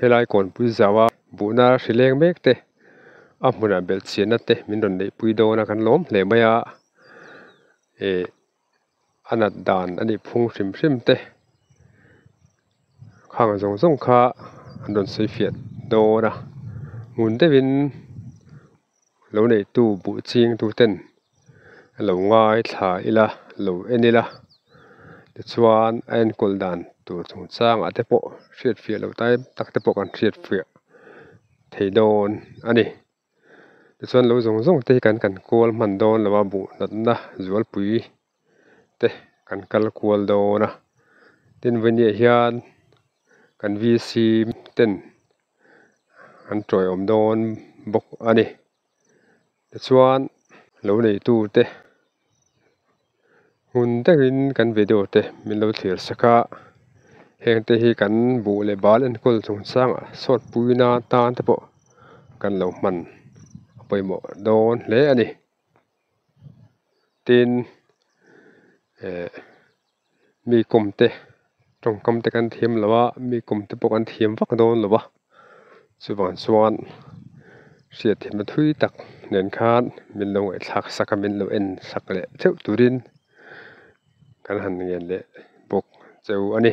Helai kawnpui zau a buhna hrileng mek te, a hmunah belhchianna te min rawn neihpui dawn a, kan lawm hle mai a, eh a nat dan a nih phung hrim hrim te khang zawng zawng kha an rawn sawi fiah dawn a, ngun deuhin. lo neihtu buh ching tu ten a lo ngai thla ila lo en ila tichuan a enkawl dan tur chung chang ah te pawh hriatfiah loh tai tak te pawh kan hriatfiah thei dawn a ni tichuan lo zawng zawng te hi kan kan kual hman dawn lo a buh natna zualpui-- te kan kal kual dawn a, tin vawni ah hian kan VC ten an tawihawm dawn bawk a ni tichuan lo neitu te hmun deuh in kan video te min lo thlir sa kha heng te hi kan buh leh bal enkawl chung chang ah chhuat pui na tan te pawh kan lo hman pawimawh dawn hle a ni. tin eh mi kum te tawngkam te kan thiam lo a mi kum te pawh kan thiam vak dawn lo va chuvang chuan hriat theih na thui tak nen khan min lo ngaihthlak sak a min lo en sak leh theuh turin kan han ngen leh bawk cheu a ni.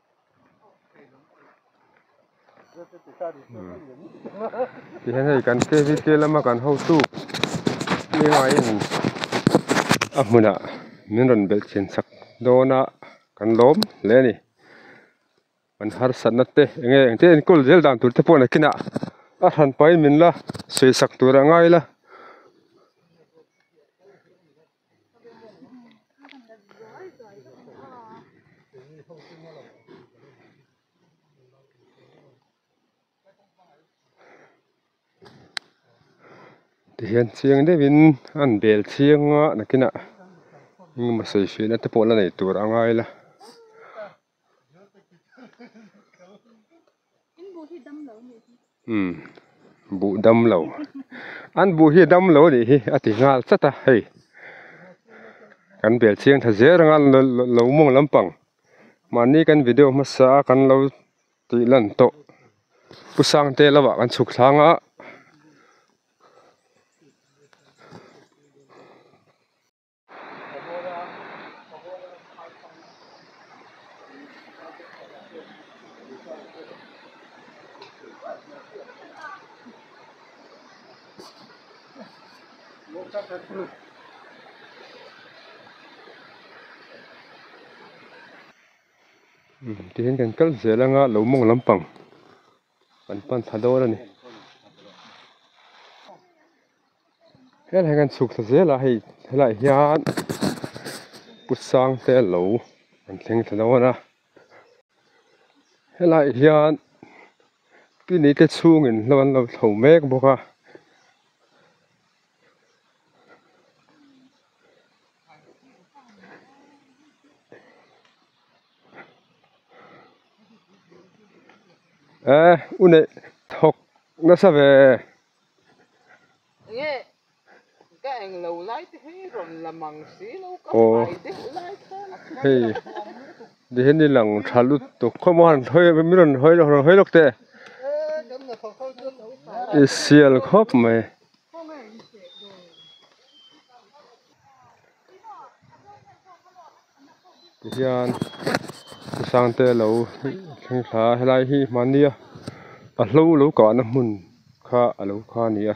tihian hei kan fevicol lama kan hotu tlemain a hmunah min rawn bel chhian chak dawn a kan lawm hle a ni kan harsat nate eng nge engte enkawl zel dan tur te pawh nakinah a han pahin min la sawi sak tur a ngai la. tihian chiang deuh in a han bel chiang a nakin ah engmaw sawi fiahna te pawh la nei tur a ngai la. umm buh dam lo an buh hi a dam lo anih hi a ti nghal chat a hei kan bel chiang tha zel anga lo mawng lampang mahni kan video hmasa a kan lo tih lan tawh pu sangte lam ah kan chhuk thlâng a. tihian kan kal zel anga lo mawng lampang. kan pan thla dawn a ni helai kan chhuk thla zel a hei helaiah hian pu sangte lo an thleng thla dawn a helai hian clinic a chhungin hlo an lo thlo mek bawk a. eh u neih thawk nasa ve aw hei ni hi ni lang tha lutuk khawp maw min rawn hawi lawk teh i sial khawp mai. hian u sangte lo thleng thla a helai hi mahnia a hlo lo kahna hmun kha a lo kha a ni a.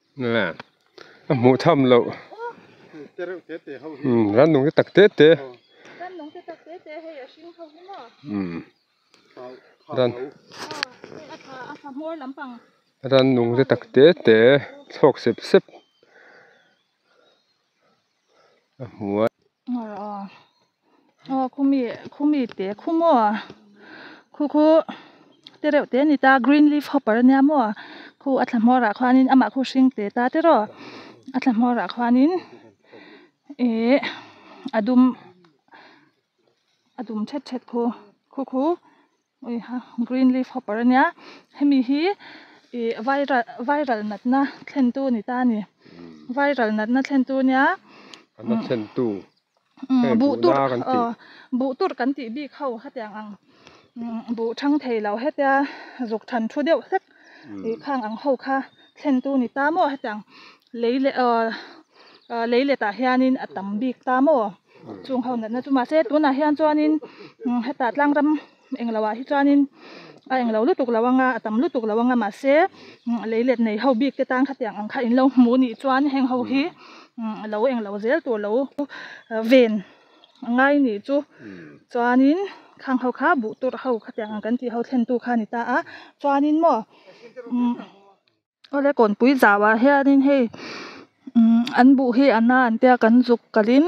a hmuh tham loh rannung te tak te te rannung te tak te te chhawk sep sep. a hmuai. Aw khumi khumi te khu maw khu khu te reuh te ani ta green leaf hopper ania maw khu a thla hmawrah khuanin amah khu hring te ta teraw a thla hmawrah khuanin ihh a dum a dum thet thet khu khu khu. Green leaf hopper ania hemi hi ih viral viral natna thlentu a ni ta a ni viral natna thlentu ania buh tur aw buh tur kan tih bik ho hetiang ang buh thang thei loh hetia zuk than thu deuh hlek. khang ang ho kha thlen tu ni ta maw hetiang lei leh ah ah lei let ah hian in a tam bik ta maw chung ho natna chu mahse tun ah hian chuan in heta tlang ram englo ah hi chuan in a englo lutuk lo ang a a tam lutuk lo ang a mahse lei let nei ho bik te tan kha tiang ang kha in lo hmuh nih chuan heng ho hi lo englo zel tur lo ven. a ngai a nih chu chuanin khang ho kha buh tur ho khatiang ang kan tih ho thlentu kha a ni ta a chuanin maw umm awle kawnpui zauah hianin hei umm an buh hi a na an tia kan zuk kalhin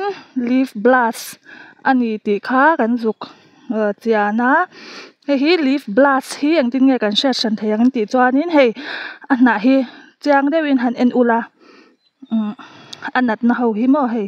lip blast a ni tih kha kan zuk ah chian a hei hi lip blast hi engtin nge kan hriat hran thei ang intih chuanin hei a hnah hi chiang deuhin han en ula umm a natna ho hi maw hei.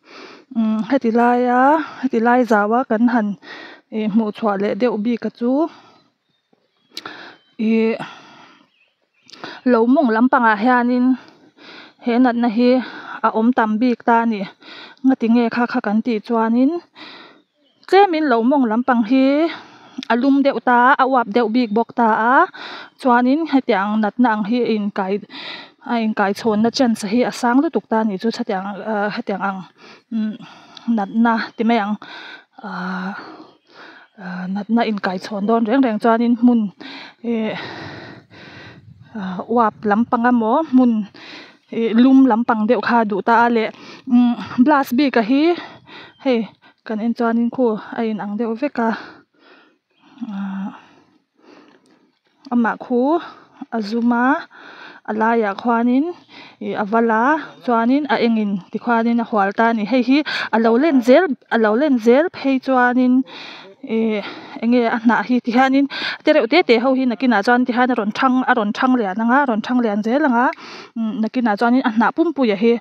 Heti laia heti lai zau a kan han ih hmuh chhuah leh deuh bik a chu ih lo mawng lampang ah hian in he nat na hi a awm tam bik ta a ni ngatinge kha kha kan tih chuan in-- Tlemin lo mawng lampang hi a lum deuh ta a a uap deuh bik bawk ta a chuanin hetiang ang natna ang hi a inkai a inkaichhawnna chance hi a sang lutuk ta ni chu chhuati ang ah hetiang ang natna ti mai ang ah ah natna inkaichhawn dawn reng reng chuanin hmun eh uap lampang emaw hmun-- ih lum lampang deuh kha duh ta a leh umm blus bik a hi hei kan en chuan in khu a in ang deuh vek a ahh amah khu a zum a a lai ah khuan in ih a va la chuan in a eng in ti khuan in a hual ta a ni hei hi a lo len zel a lo len zel phei chuan in-- ihh enge a hnah hi tihianin te reuh te te ho hi nakinah chuan tihian a rawn thang a rawn thang lian anga a rawn thang lian zel anga umm nakinah chuan a hnah pumpuia hi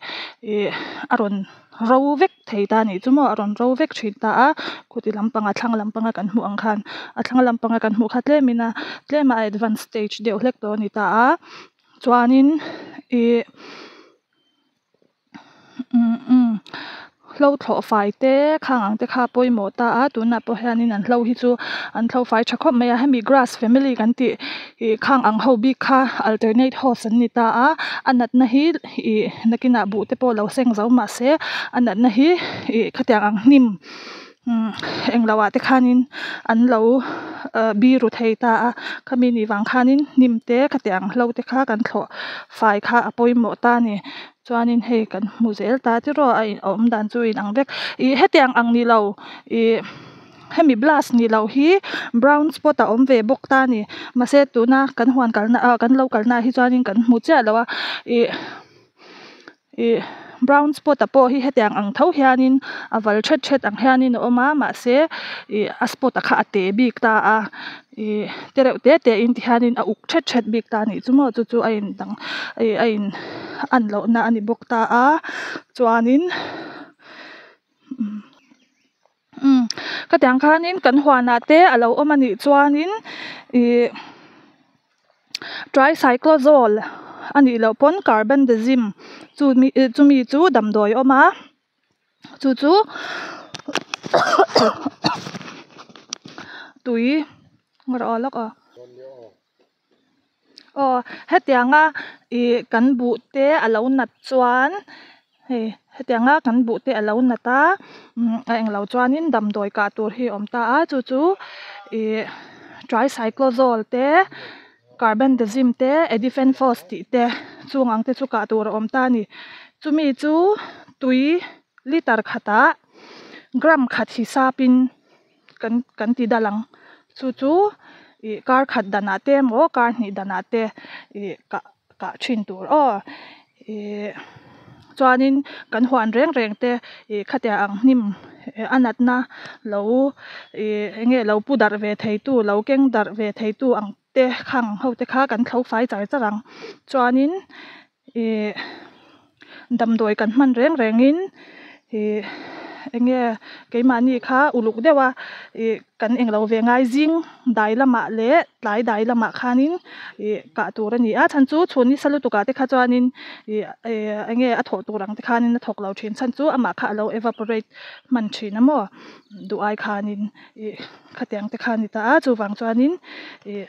ihh a rawn ro vek thei ta nih chu maw a rawn ro vek thin ta a khawti lampang a thlang lampang a kan hmuh ang khan a thlang lampang a kan hmuh kha tlemina tlema a advance stage deuh hlek tawh a ni ta a chuanin ihh-- Hlothlawh fai te khang ang te kha pawimawh ta a tunah pawh hian in an hlo hi chu an hlo fai tha khawp mai a hemi grass family kan tih ih khang ang ho bik kha alternate host an ni ta a a natna hi ih nakinah buh te pawh lo seng zo mahse a natna hi ih khatiang ang hnim-- engloah te khanin an lo biru thei ta a khami nih vang khanin hnim te ka teh ang hlo te kha kan thlawh fai kha a pawimawh ta a ni chuanin hei kan hmu zel ta tiraw a awm dan chu a inang vek ih hetiang ang ni lo ih hemi blast ni loh hi brown spot a awm ve bawk ta a ni mahse tuna kan huan kalna ah kan lo kalna ah hi chuan kan hmu chiah lo a ih-- Ih, brown spot-a pawh hi hetiang ang tho hianin a val ṭhet ṭhet ang hianin a awm a, mahse, ih, a spot-a kha a te bik ta a. Ih, te reuh te te in ti hianin a uk ṭhet ṭhet bik ta a nih chu maw chu chu a in dang, ih, a in an lohna a ni bawk ta a. Chuanin, umm. Umm. Khatiang khanin kan huanah te a lo awm a nih chuanin ih tricyclazole a nih loh pawn carbendazim chu mi eh chumi chu damdawi a awm a chu chu tui rawh a lak a. aw hetiang a ih kan buh te a lo nat chuan hei hetiang a kan buh te a lo nat a umm a eng lo chuan in damdawi kah tur hi a awm ta a chu chu ih tricyclezawl te carbendazim te edifan force force tih te chung ang te chu kah tur a awm ta a ni chu mi chu tui litre khat ah gram khat hisap in-- kan kan ti dal ang chu chu ih kar khat danah te emaw kar hnih danah te ih kah kah thin tur aw ih chuanin kan huan reng reng te ih khatiah ang hnim a natna lo ih eng nge lo pu darh ve thei tu lo keng darh ve thei tu ang te khang ho te kha kan thlofai char char ang chuanin ih damdawi kan hman reng rengin ih enge keimahni kha uluk deuha ih kan eng lo ve ngai zing dai lamah leh tlai dai lamah khanin ih kah tur a ni a chhan chu chhun isa lutuk ah te kha chuanin ih eh enge a thawh tur ang te khanin a thawk lo thin chhan chu amah kha alo evaporate hman thin a maw duh ai khanin ih khatiang te kha a ni ta a chuvang chuanin ih.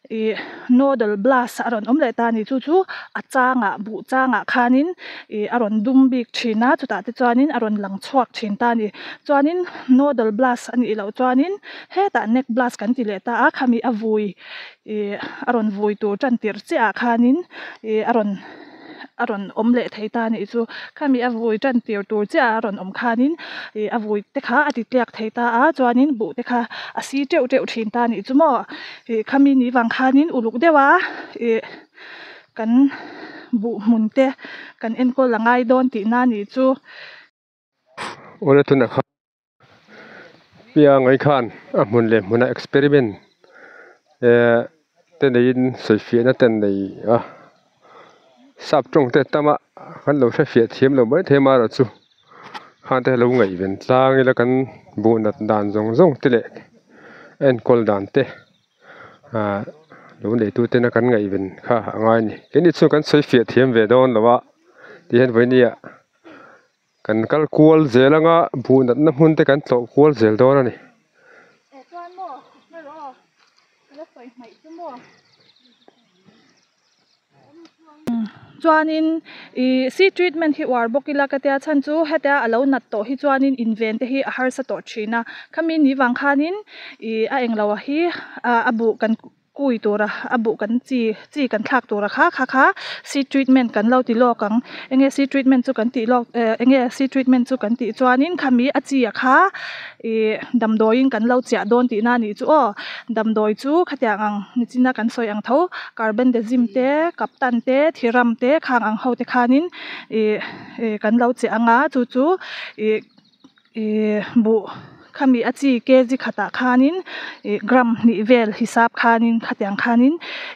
I nodal blast a rawn awm leh ta ni chu chu a changa buh changa khanin i a rawn dum bik thin a chutah te chuanin a rawn lang chhuak thin ta ni chuanin nodal blast a nih loh chuanin hetah neck blast kan ti leh ta a khami a vui i a rawn vui tur tan tir chiah ah khanin i a rawn-- a rawn awm leh thei ta nih chu khami a vui tan tir tur chiah a rawn awm khan in ih a vui te kha a ti tliak thei ta a chuan in buh te kha a si teuh teuh thin ta nih chu maw ih khami nih vang khan in uluk deuh a ih kan buh hmun te kan enkawl a ngai dawn tih na nih chu. Awle tuna kha piangai khan a hmun leh hmuna experiment ehh te neiin sawifiahna ten nei a sap tawng te tam a kan lo hrefiah thiam lo mai thei mai erawh chu khante lo ngaihven tlang ila kan buhnat dan zawng zawng te leh a enkawl dan te. lo neitu tena kan ngaihven kha a ngai a ni kei ni chu kan sawi fiah thiam ve dawn lo a ti hian vawi nia kan kal kual zel anga buh natna hmun te kan tlawh kual zel dawn a ni -- chuanin ihh si treatment hi uar bawk ila ka tia chhan chu hetia a lo nat tawh hi chuanin inven te hi a harsa tawh thin a khami ni vang khanin ihh a englo ah hi ah a buh kan kui tur a a buh kan chi chi kan thlak tur a kha kha kha si treatment kan lo ti lawk ang enge si treatment chu kan tih lawk eh enge si treatment chu kan tih chuanin khami a chi a kha. Ih, damdawiin kan lo chiah dawn tihna a nih chu aw. Damdawi chu khatiang ang nichin a kan sawi ang tho. Carbendazim te, Captan te, Thiram te, khang ang ho te khanin ih, ih kan lo che ang a, chu chu ih, ih buh khami a chi kg khatah khanin ih, gram hnih vel hisap khanin khatiang khanin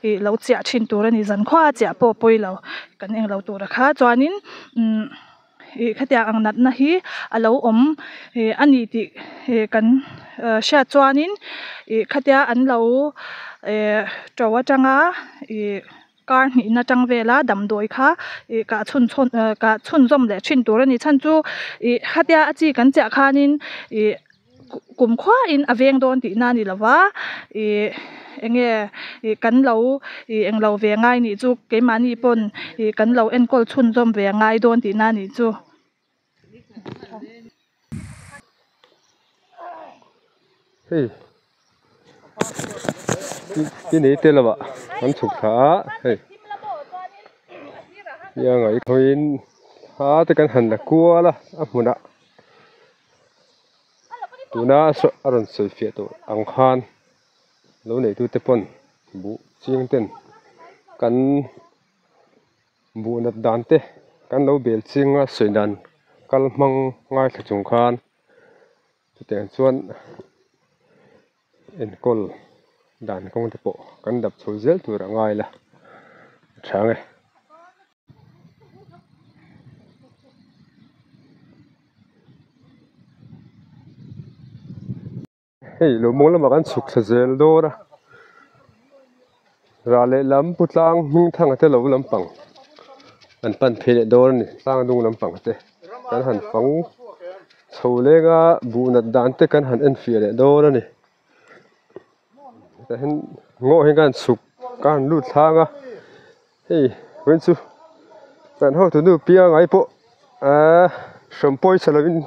ih, lo chiah thin tur a ni. Zan khuaa chiah pawh pawilo kan eng lo tura kha chuanin umm. ih khatiang ang natna hi a lo awm ih a ni tih ih kan ih hriat chuanin ih khatia an lo eh to atang a ih kar hnih na atang vela damdawi kha ih kah chhun chhawn eh kah chhunzawm leh thin tur a ni chhan chu ih khatia a chi kan chiah khanin ih-- kum khuain a veng dawn tihna a ni lo va, ih eng nge ih kan lo ih eng lo ve ngai nih chu keimahni pawn ih kan lo enkawl chhunzawm ve a ngai dawn tihna a nih chu. Ti nei te lamah kan chhuk thla a hei tia ngaihtuahin thla te kan han la kual a a hmunah tuna a sawi a rawn sawi fiah tur ang khan lo neitu te pawn buh chiang ten kan buhnat dan te kan lo bel chiang a sawi dan kal hmang ngaithla chung khan-- Chutiang chuan enkawl dan kawng te pawh kan dap chho zel tur a ngai la a tha nge. Hei lawmawng lamah kan chhukthla zel dawn a. Ral leh lam pu tlang hnung thanga te lo lampang an pan phei leh dawn a ni tlang hnung lampang te kan han fang chho lenga buh nat dan te kan han en fiah leh dawn a ni tah hian ngaw hi ka han chhuk ka han lut thlâng a hei wai chu kan ho tu nu piangai pawh aa hrawn pawisa lo in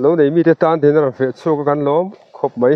lo nei mi te tan tihna a rawn feh chhuak a kan lawm khawp mai.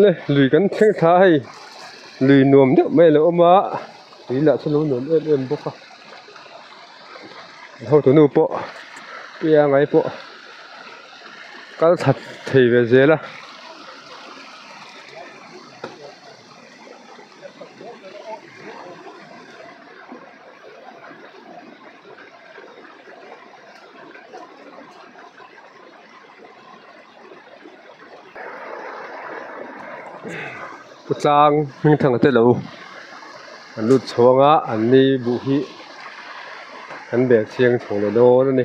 Nge lui kan thleng thla hei lui nuam deuh mai a lo awm a tui lah chu a lo nuam em em bawk a hotu nu pawh pi angai pawh kal that thei ve zel a. Ka tlang hmingthang te lo an lut chhuang a an ni buh hi kan beh chiang chho loh dawn a ni.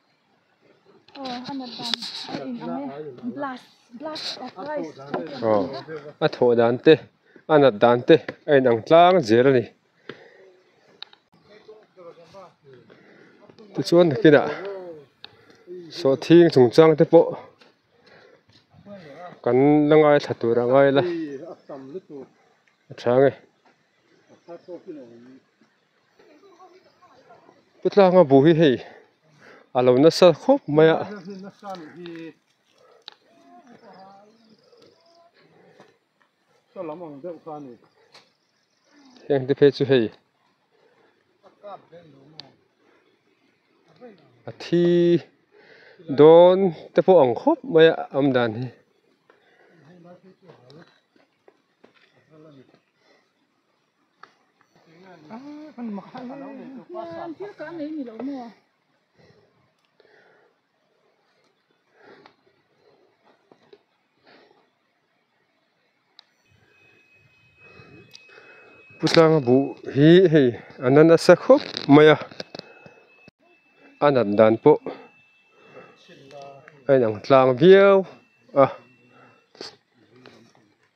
a thawh dan te a nat dan te a in ang tlang zel a ni tichuan nakinah sawhthing chung chang te pawh kan la ngai thla tur a ngai la a chhang e. Pu Tlanga bu hi hei a lo nasa khawp mai a heng te phei chu hei a thi dawn te pawh ang khawp mai a awm dan hi. Pu Tlanga buh hi hei a na nasa khawp mai a a nat dan pawh a inang tlang viau a.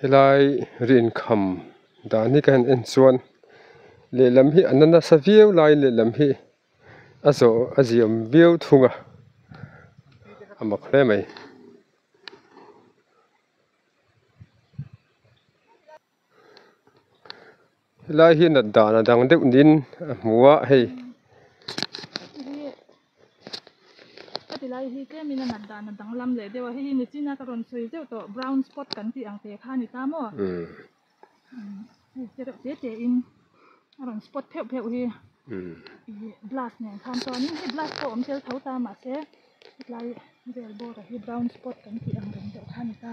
Helai ri inkham dan hi ka han en chuan lehlam hi a na nasa viau lai lehlam hi a zawh a ziam viau thung a a mak hle mai. Helai hi nat dan a dang deuh niin a hmu a hei ka ti lai hi tlem in a nat dan a dang lam leh deuh a hei hi ni chin a ka rawn sawi zeuh tawh brown spot kan tih ang teh kha a ni ta maw te reuh te te in a rawn spot pheuh pheuh hi ihh blus nen khan chuan in hei blus pawh awm tel tho ta mah se hetlai vel bawr ah hi brown spot kan tih ang reng deuh kha a ni ta.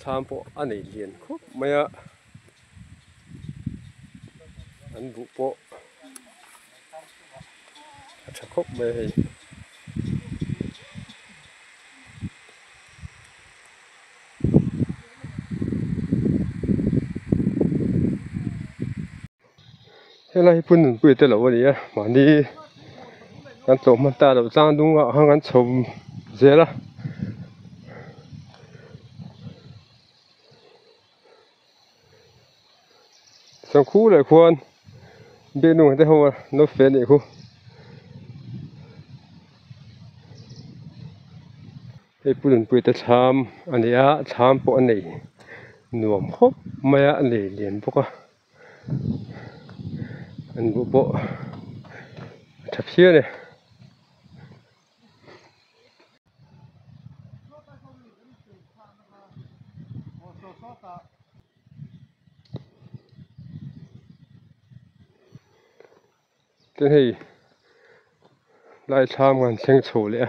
Thlam pawh a nei hlian khawp mai a, an buh pawh a tha khawp mai a hei. Helai hi punnunpuia te loh a ni a mahni kan tlawh hman ta loh chang dung ah khan kan chho zel a chuan khu leh khuan biak nawr te ho a no fe leh khuh hei punnunpuia te thlam a ni a thlam pawh a nei nuam khawp mai a a lei liam bawk a. an buh pawh a tha phiah a ni. Tin hei Laithlam kan thleng chho leh a.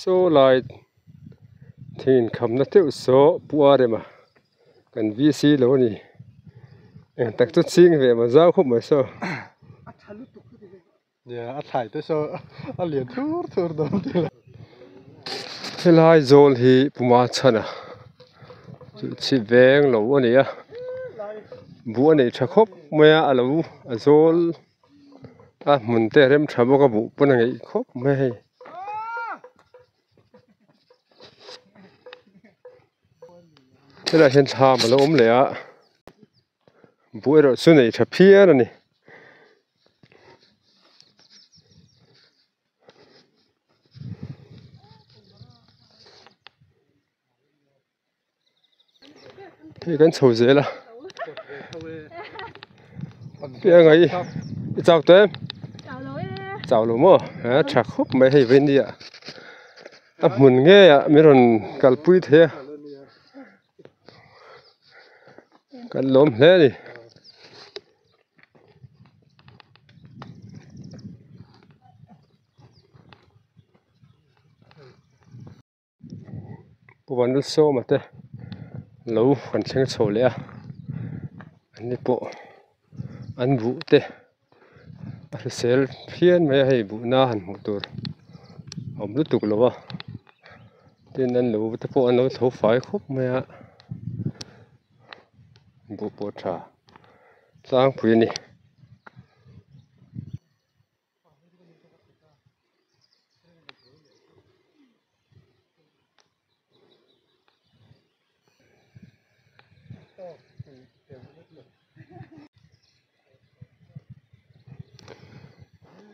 sawlai theihin khamna teuh sawh puarem a kan v c lo a ni engtak chu ching ve maw zau khawp mai saw. Nia a thlai te saw a lian thur thur dawn tih la. Helai zawl hi puma chhan a chu chhi veng lo a ni a buh a nei tha khawp mai a a lo a zawl a hmun te a rem tha bawk a buh pawn a ngeih khawp mai a hei. Helai hian thlam a lo awm leh a buh erawh chu nei tha phian a ni. hei kan chho zel a hei angai hi i chak tawh em chak lo maw a tha khawp mai hei vawini ah a hmun ngei ah min rawn kalpui thei a. kan lawm hle a ni. Puvanna sawma te lo kan thleng chho leh a an ni pawh an vuh te. a hrisel fian mai a hei buhna han hmuh tur a awm lutuk lo va tin an lo te pawh an lo tho fai khawp mai a buh pawh tha tlangpui a ni.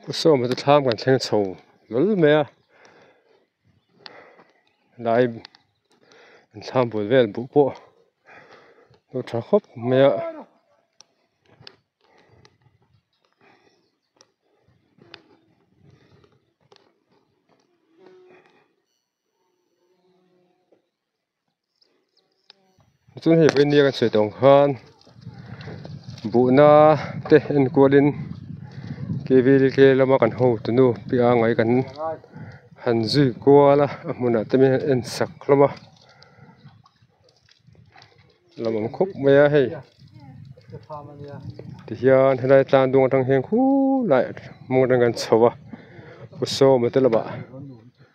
Ka sawm a tlang kan thleng chho lul mai a hnai an thlang bul vel buh pawh pawh a tha khawp mai a. chuan hei vawinia kan sawi tawng khan buhna te enkual in keivel kei lama kan ho tu nu piah angai kan han zui kual a a hmunah te mian en sak hlawm a lam ang khawp mai a hei tihian helai tlang dawng atang hian khulai hmang atang kan chho a usawma te lamah.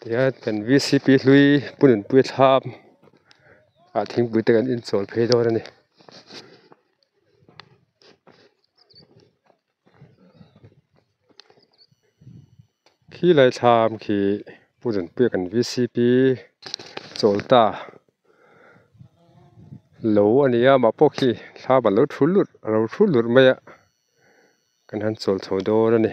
Tihian kan v c p hlui punun pui a thlam a thingpui te kan inchawlh phei dawn a ni. Khilai thlam khi punun pui a kan v c p chawl ta lo a ni a mah pawh khi thlam a lo thu lut a lo thu lut mai a kan han chawl chho dawn a ni.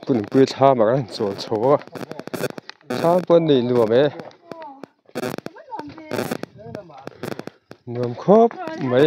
punpui thla mak a rawn chawl chho a thlang pawh a neih nuam e nuam khawp mai.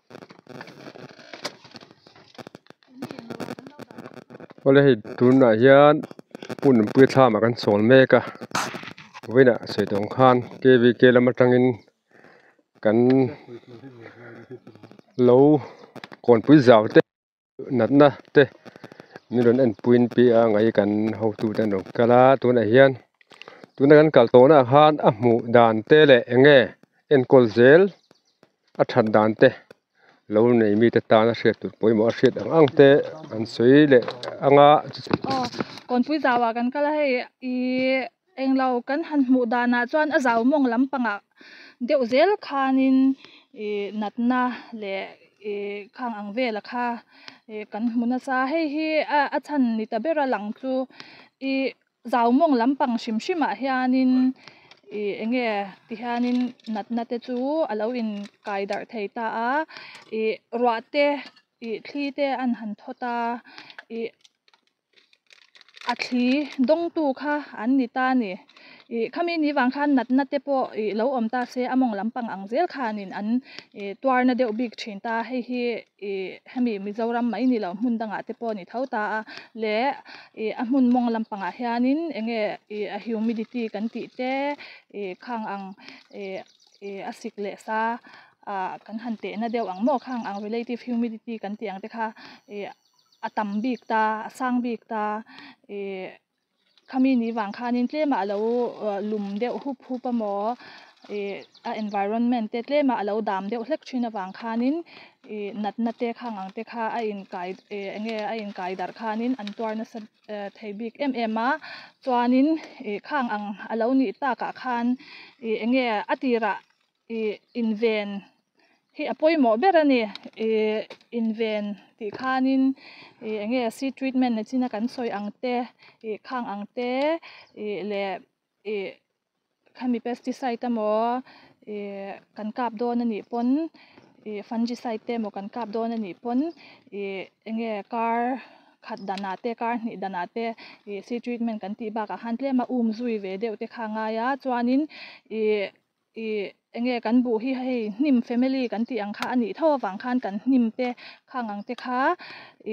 Awle hei tunah hian hun puithlama kan sawn mek a vawiinah saitawm khan K V K lam atangin kan lo kawnpui zau te-- natna te min rawn en puiin pi a ang ai kan hotu te an rawn kal a tunah hian tuna kan kal tawh nahah khan a hmuh dan te leh eng nge enkawl zel a that dan te lo nei mi te tan a hriat tûr pawimawh a hriat ang ang te an sawi leh ang a. Englo kan han hmuh danah chuan a zau mawng lampangah deuh zel khanin ih natna leh ih khang ang vela kha ih kan hmu nasa hei hi a chhan ni ta bera lang chu ih zau mawng lampang hrim hrimah hianin ih eng nge ti hianin natna te chu a lo in kai darh thei ta a ih ruah te ih thli te an han thawt a ih-- A thli dawngtu kha an ni ta ni. Ih, khami ni vang khan natna te pawh ih lo awm ta se, a mawng lampang ang zel khan in an ih tuarna deuh bik thin ta. Hei hi ih hemi Mizoram mai ni lo hmun dangah te pawh a ni tho ta a, leh ih a hmun mawng lampangah hianin eng nge ih a humidity kan tih te ih khang ang ih ih a sik leh sa ah kan han tehna deuh ang maw khang ang relative humidity kan tih ang te kha ih. a tam bik ta, a sang bik ta, ih khami ni vang khanin tlema alo lum deuh hup hup a maw ih a environment te tlema alo dam deuh hlek thin avang khanin ih nat na te kha ang ang te kha a in kai ih enge a in kai darh khanin an tuar nasa eh thei bik em em a chuanin ih khang ang alo nih takah khan ih enge a tirah Ih inven hi a pawimawh ber a ni. Ih inven tih khanin ih enge seed treatment na china kan sawi ang te, ih khang ang te ih leh ih khami pesticide te maw ih kan kap dawn anih pawn ih fungicide te maw kan kap dawn anih pawn ih enge kar khat danah te kar hnih danah te ih seed treatment kan tih bakah khan tlema um zui ve deuh te kha a ngai a chuanin ih. I enge kan buh hi hei hnim family kan tih ang kha a nih tho avang khan kan hnim te khang ang te kha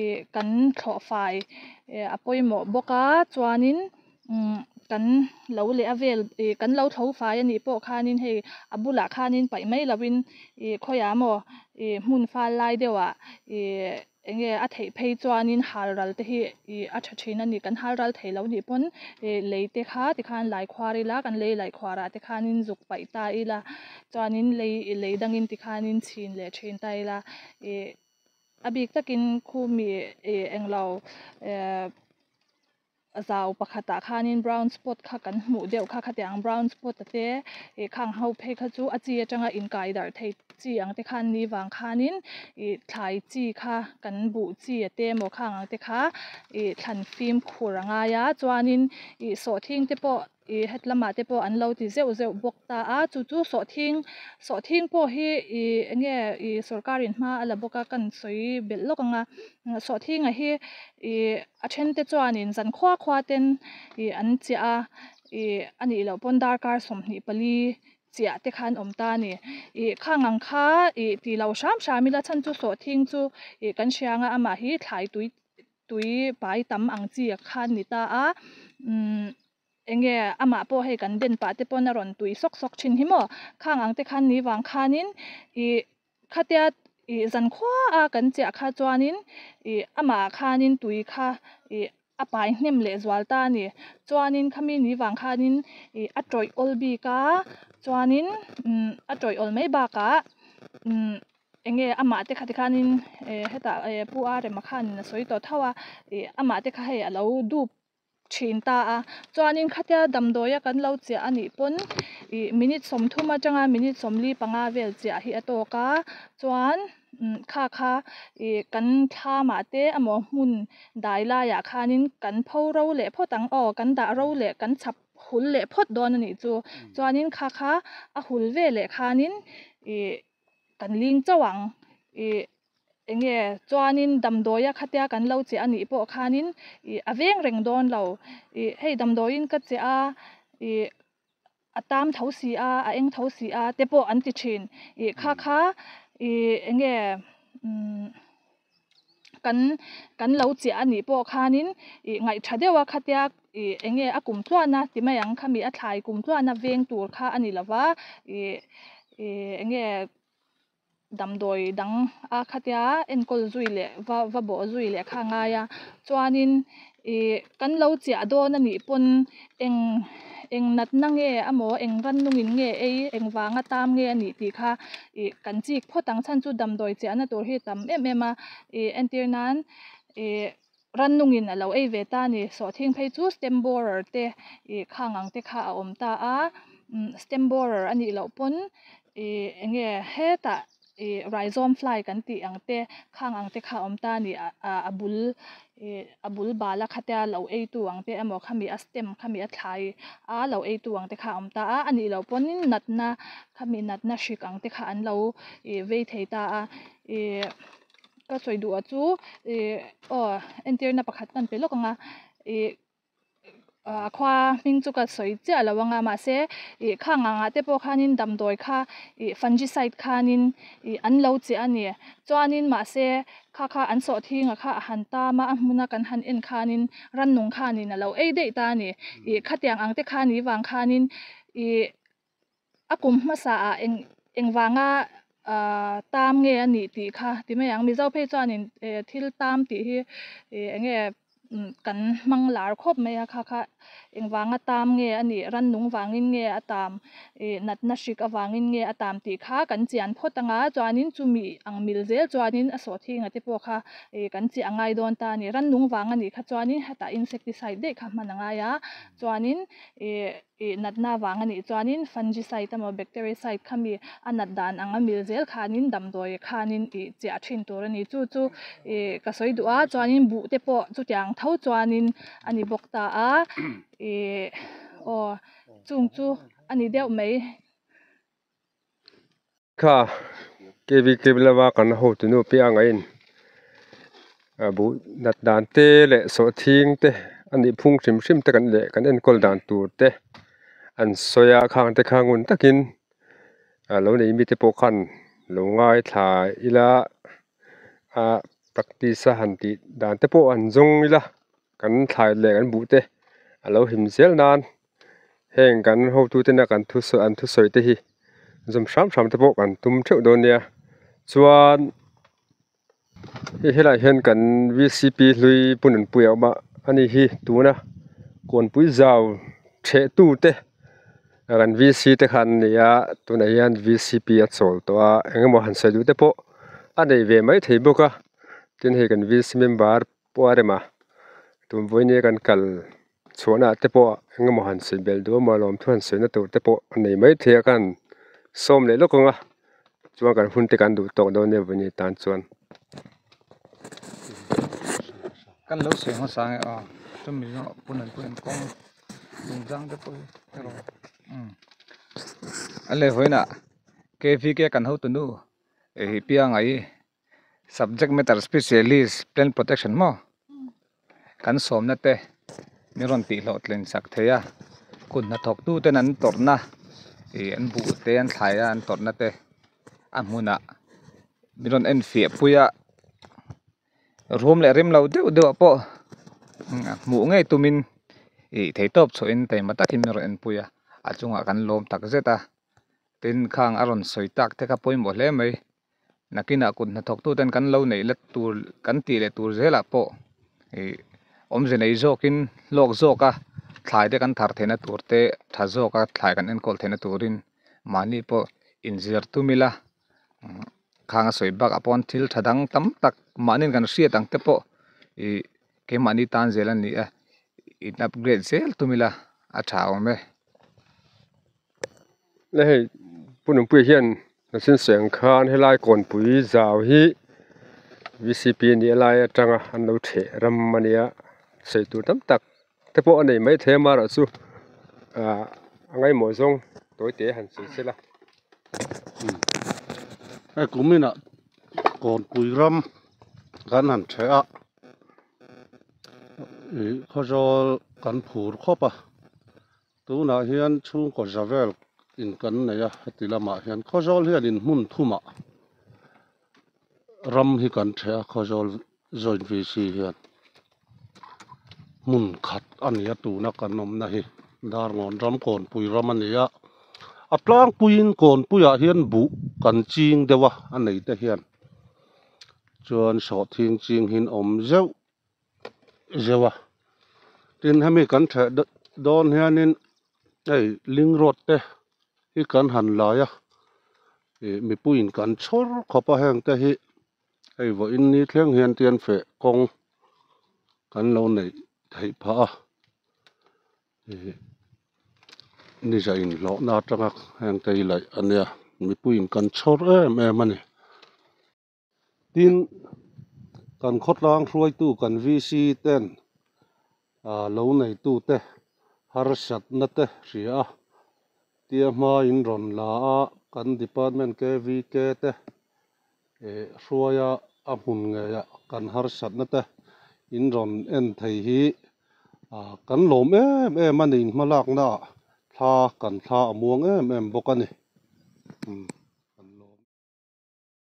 i kan thlawh fai a pawimawh bawk a chuanin umm kan lo leh a vel i kan lo thlo fai a nih pawh khan in hei a bulah khan in paih mai lovin i khawiah a maw i hmun fal lai deuhah i. Eng nge a theih phei chuanin hal ral te hi i a tha thin a ni? Kan hal ral thei lo nih pawn i lei te kha tikhan lei khuar ila, kan lei lei khuar ah tikhanin zuk paih ta ila, chuanin lei i lei dangin tikhanin chhin leh thin ta ila, i a bik takin khu mi i englo zau pakhatah khanin brown spot kha kan hmuh deuh kha khatiang brown spot a te ih khang ho phei kha chu a chi atanga inkai darh thei chi ang te khan ni vang khanin ih thlai chi kha kan buh chi a te emaw khang ang te kha ih thlan fim khur a ngai a chuanin ih sawhthing te pawh-- Ih hetlamah te pawh an lo ti zeuh zeuh bawk ta a, chu chu sawhthing sawhthing pawh hi ih enge ih sorkar in hma a la bawk a, kan sawi belh lawk ang a, sawhthingah hi ih a then te chuan in zan khua khua ten ih an chiah a, ih a nih loh pawn darkar sawmhnih pali chiah te kha an awm ta a ni. Ih khang ang kha ih tih lo hram hram ila chhan chu sawhthing chu ih kan hria ang a, amah hi thlai tui Tui pai tam ang chi kha an ni ta a, umm eng nge amah pawh hei kan den pah te pawn a rawn tui sawk sawk thin hi maw? Khang ang te khan ni vang khanin ih khatia ih zan khuaa kan chiah kha chuanin ih amah khanin tui kha ih a pai hnem leh zual ta a ni. Chuanin khami ni vang khanin ih a tawih awl bik a, chuanin umm a tawih awl mai bakah umm. Eng nge amah te kha ti khanin eh heta eh Pu Arema khanin a sawi tawh tho a, ih amah te kha hei a lo dup thin ta a, chuanin khatia damdawia kan lo chiah a nih pawn ih minute sawmthum atanga minute sawmli panga vel chiah hi a tawk a, chuan umm kha kha ih kan thla mah te amaw hmun dai laiah khanin kan pho ro leh phawt ang aw kan dah ro leh kan chhap hul leh phawt dawn a nih chu, chuanin kha kha a hul veleh khanin ih. Kan ling chauh ang i, eng nge chuanin damdawiah khatia kan lo che anih pawh khanin i a veng reng dawn lo i, hei damdawiin ka che a i, a tam tho si a, a eng tho si a te pawh an ti thin i, kha kha i eng nge. kan kan lo chiah a nih pawh khanin ih ngaihtha deuh a khatia ih eng nge a kum tluahna ti mai ang kha mi a thlai kum tluahna veng tur kha a ni lova ih ih eng nge damdawi dang a khatia enkawl zui leh va va bawh zui leh kha a ngai a chuanin-- I kan lo chiah dawn a nih pawn eng eng natna nge emaw eng rannungin nge ei eng vanga tam nge a nih tih kha i kan chik phawt ang chhan chu damdawi chiahna tur hi a tam em em a i entir nan i rannungin a lo ei ve ta a ni sawhthing phei chu stamp borer te i khang ang te kha a awm ta a stamp borer a nih loh pawn i eng nge hetah-- Ih, Rhizome fly kan tih ang te, khang ang te kha awm ta nih ah a bul ih a bul bala khatea lo eitu ang te emaw khami a stem khami a thlai a lo eitu ang te kha awm ta a, anih loh pawnin natna khami natna hrik ang te kha an lo ih vei thei ta a. Ih, ka sawi duh ah chu ih aw entirna pakhat ka han pe lawk ang a, ih a khua hming chu ka sawi chiah lo anga mahse ih kha ngah ngah te pawh khan in damdawi kha ih fungicide khan in ih an lo che a ni chuan in mahse kha kha an sawh thinga kha a han tam a a hmuna kan han en khan in rannung khan in a lo ei daih ta a ni ih khatiang ang te khan ih vang khan in ih A kum hmasa ah eng eng vanga ahh tam nge a nih tih kha ti mai ang. Mizo phei chuan in ehh thil tam tih hi ehh eng nge umm kan hmang lar khawp mai a kha kha eng vanga tam nge a nih rannung vangin nge a tam ehh natna hrik avangin nge a tam tih kha kan chian phawt ang a chuanin chumi ang mil zel chuanin a sawhthing ate pawh kha ehh kan cheh a ngai dawn ta a ni. Rannung vang a nih kha chuanin hetah insecticide daih kha hman a ngai a chuanin ehh. Ih natna vang a nih chuanin fungicide emaw bactericide kha mi a nat dan ang a mil zel khanin damdawi khanin ih chiah thin tur a ni. Chu chu ih ka sawi duh a, chuanin buh te pawh chutiang tho chuanin a ni bawk ta a. Ih aw chung chu a ni deuh mai. Thla kv klim lama kan la ho tu nu piah ang aiin a buh nat dan te leh sawh thing te a nih phung hrim hrim te kan leh kan enkawl dan tur te an sawi a khang te kha ngun takin a lo nei mite pawh khan lo ngaithla ila a practice a han tih dan te pawh an zawng ila kan thlai leh kan buh te a lo him zel nan. Heng kan hotu ten a kan thu sawi an thu sawi te hi zawm hram hram te pawh kan tum theuh dawn nia chuan hei helai ah hian kan v c p hlui punanpui a awm a a ni hi tuna kawnpui zau chheh tu te kan v c te khan a ni a tunah hian v c p a chawl tawh a eng emaw han sawi duh te pawh a nei ve mai thei bawk a tin hei kan v c member -- Puarema tumvuine kan kal chhuahna te pawh engemaw han sawi bel duh amaw lawm thu han sawi na tur te pawh a nei maithei a khan sawm leh lawk ang a chuan kan hunte kan duh tawk dawn em vawi ni tan chuan subject matter specialist plant protection maw kan sawmna te min rawn tih hlawh tlen chak thei a kut hna thawk tu ten an tawrhna ih an buh te an thlai a an tawrhna te a hmunah min rawn en fiah pui a rum leh rimlo deuh deuh ah pawh a hmuh ngei tumin ih thei tawp chhuah in taima takin min rawn en pui a a chungah kan lawm tak zet a tin khang a rawn sawi tak te kha pawimawh hle mai. Nakinah kut hnathawktuten kan lo neih let tur kan tih leh tur zelah pawh ih awmze nei zawkin hlawk zawka thlai te kan thar theihna tur te tha zawka thlai kan enkawl theihna turin mahni pawh inzir tum ila khang a sawi bakah pawn thil tha dang tam tak mahni kan hriat ang te pawh ih keimahni tan zel a nih a in upgrade zel tum ila a tha awm e. hei pununpuia hian machine sawi ang khan helai kawnpui zau hi v c p a nih alai atanga an lo thleh ram a nia sawi tur tam tak te pawh a nei maithei a mahro chu ah a ngaihmawh zawng tawi te han sawi sel a hei kum inah kawnpui ram kan han thleh a ihh khawzawl kan phur khawp a. Tunah hian chhungkaw Javel in kan nei a, heti lamah hian Khawzawl hian in hmun thumah ram hi kan chhe a, Khawzawl Joint VC hian hmun khat a ni a tuna kan awmna hi Darngawn ram Kawnpui ram a ni a, a tlangpuiin Kawnpuiah hian buh kan ching deuh a, a neite hian chuan sawhthing chinghin awm zeuh. zeuh a tin hemi kan ṭheh dawn hianin hei ling road te hi kan han lai a ih mipuiin kan chhawr khawp a heng te hi hei vawiin ni thleng hian tianfeh kawng kan lo neih theih phah a ih ni zah in hlawhna aṭanga heng te hi laih a nia mipuiin kan chhawr em em a ni. Tin, kan khawtlang hruaitu kan VC ten lo neitute harsatna te hria a tia hmain rawn la a, kan department KVK te hruaia a hmun ngeiah kan harsatna te in rawn en thei hi kan lawm em em a ni in hmalaknaah thla kan thla a muang em em bawk a ni.